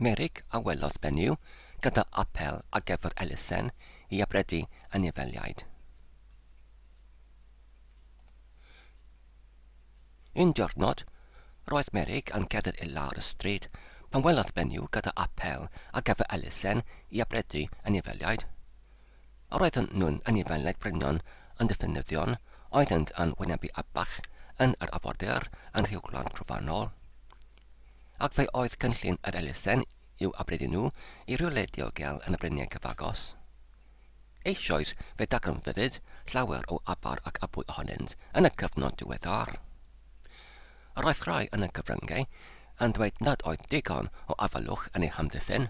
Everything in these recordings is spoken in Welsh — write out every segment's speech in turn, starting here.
Merrick a welodd benyw gyda apêl ar gyfer elusen i abredu anifeiliaid. Un diwrnod, roedd Merrick yn cerdded i lawr y stryd pan welodd benyw gyda apêl ar gyfer elusen i abredu anifeiliaid. Roedden nhw'n annibynnol brynion yn dipyn nyddion, oeddent yn wynebu abach yn yr afordir yn Rhiw Gwlad Trofannol. Ac fe oedd cynllun yr elusen i'w abredu nhw i rywle diogel yn y bryniau cyfagos. Eisoes fe ddagrynfyddid llawer o aber ac abwy ohonynt yn y cyfnod diweddar. Yr oedd rhai yn y cyfryngau yn dweud nad oedd digon o afaelwch yn eu hamddiffyn,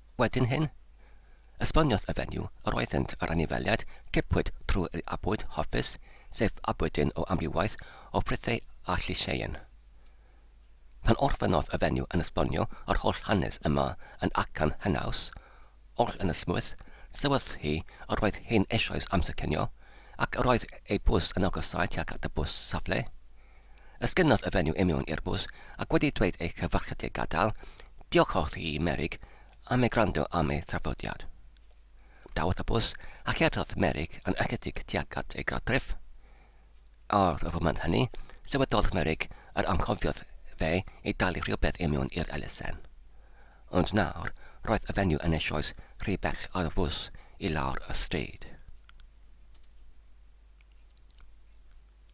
Wedyn hyn, esboniodd y fenyw, yr oeddynt ar anifeiliaid, cipwyd trwy ei abwyd, hoffus, sef abwyd dyn o amrywaeth o frithei a llysieuyn. Pan orffennodd y fenyw yn esbonio yr holl hanes yma yn acan henaws, oll yn ysmwyth, sylwes hi yr oedd hi'n eisoes amser cinio, ac yr oedd ei bws yn agosáu tuag at y bws safle. Esgynodd y fenyw union i'r bws ac wedi dweud ei chyfarchiadau gadael, diochodd hi i Merig am ei gwrando am ei thrafodiad. Dawodd y bws a cherddodd Merig yn ysgydig tuag at ei gartref. Ar y foment hynny, sylweddolodd Merig yr anghofiodd fe ei dalu rhywbeth union i'r elusen. Ond nawr, roedd y fenyw yn eisoes rhy bell ar y fws i lawr y stryd.